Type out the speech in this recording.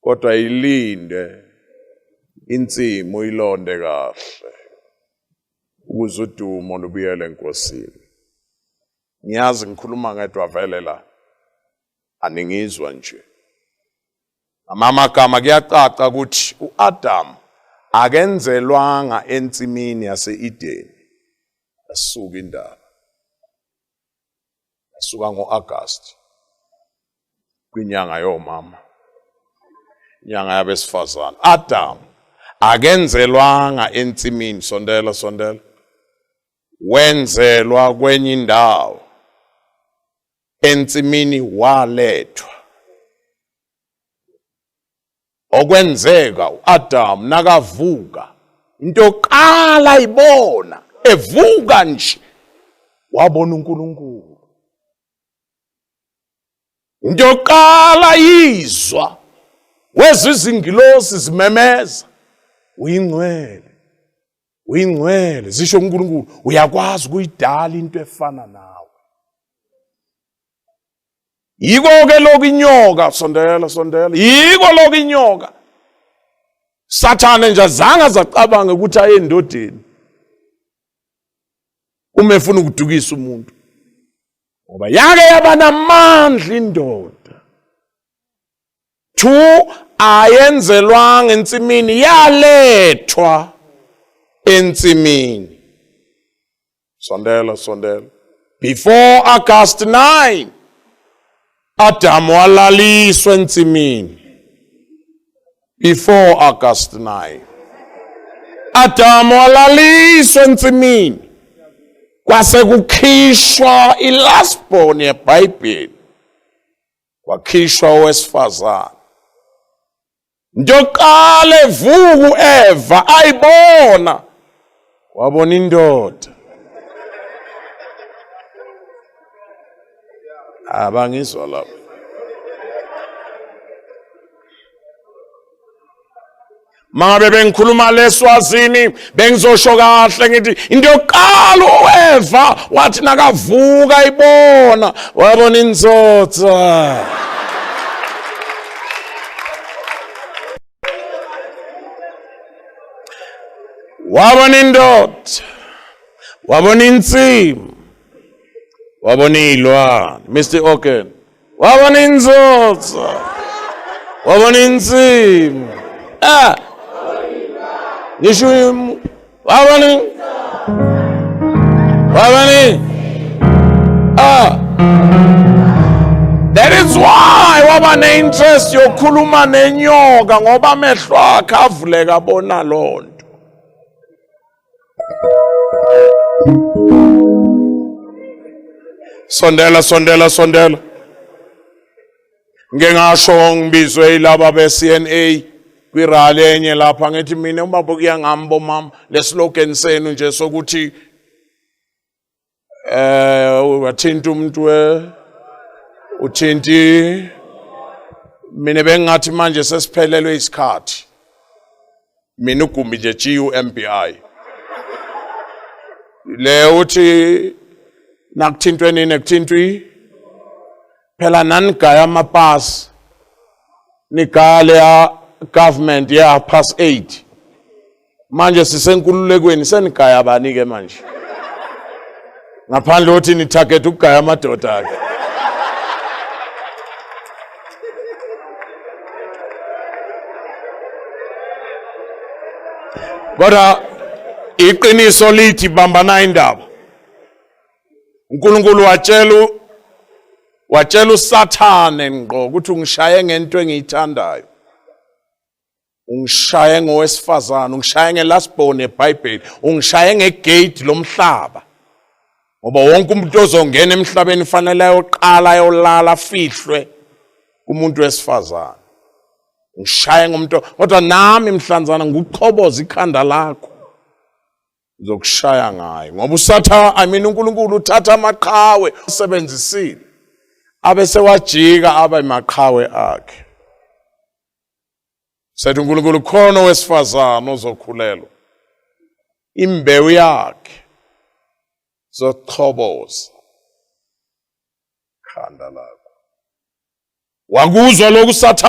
kodwa ilinde insimu ilonde kahle ukuze udumo lubuyele enkosini ngiyazi ngikhuluma ngedwa vele la aningizwa nje amamagama kuyacaca ukuthi uAdam akenzelwanga ensimini yaseEden asuka indaba Suka ngo-Agasti kwinyanga yomama, inyanga yabesifazane. Adam akenzelwanga ensimini, sondela sondela, wenzelwa kwenye indawo. Ensimini walethwa okwenzeka uAdam nakavuka into yokuqala ibona evuka nje wabona uNkulunkulu into yokuqala yizwa wezwa izingilosi zimemeza uyingcwele uyingcwele zisho uNkulunkulu uyakwazi ukuyidala into efana nawe Yiko-ke lokhu inyoka, sondela, sondela. Yiko lokhu inyoka. Sathane nje azange azacabanga ukuthi aye endodeni. Uma efuna ukudukisa umuntu. Ngoba yake yaba namandla indoda. Two ayenzelwanga ensimini yalethwa ensimini. Sondela, sondela. Before August 9, Adamu walaliswa ensimini. Before August 9. Adamu walaliswa ensimini. Kwase kukhishwa ilast born yeBhayibheli. Wakhishwa owesifazane. Njoqala evuku Eva ayibona wabona indoda. Abangizwa ah, lapho. Mangabe bengikhuluma leswazini bengizosho kahle ngithi into yokuqala ueva wathi nakavuka ibona wabona inzoza wabona indoda wabona insimu wabona iy'lwane mr ogan waba ninzozo waba ninzima ah ngisho waba ni waba ni ah That is why waba ne-interest yokukhuluma nenyoka ngoba amehlo akhe avuleka bona lona. Sondela sondela sondela. Ngeke ngasho ngibizwe ilaba be CNA kwirally enye lapha ngithi mina ubaba kuyangami bomama leslogan senu nje sokuthi eh wathinta umuntu we uthinti mina bengathi manje sesiphelelwe isikhathi mina ugumbi nje GUMBI le uthi nakuthintwe nini kuthintwi phela nanigaya amapass nigale ya government ya pass 8 manje sisenkululekweni senigaya bani ke manje ngaphandle othi ni target ukugaya amadoda ke kodwa iqiniso lithi bambana indaba uNkulunkulu watshela watshela uSathane ngqo ukuthi ungishaye ngento engiyithandayo ungishaye ngowesifazane ungishaye nge-last born yebhayibheli ungishaye ngegeyidi lomhlaba ngoba wonke umuntu ozongena emhlabeni fanele ayoqala ayolala afihlwe kumuntu wesifazane ngishaye ngomuntu kodwa nami mhlanzana nguqhoboza ikhanda lakho ngizokushaya ngayo ngoba usatha i mean uNkulunkulu uthatha amaqhawe usebenzisile abe sewajika abe maqhawe akhe Sathi uNkulunkulu khona owesifazane ozokhulelwa. Imbewu yakhe zochoboza khanda lakho. Wakuzwa lokhu sathane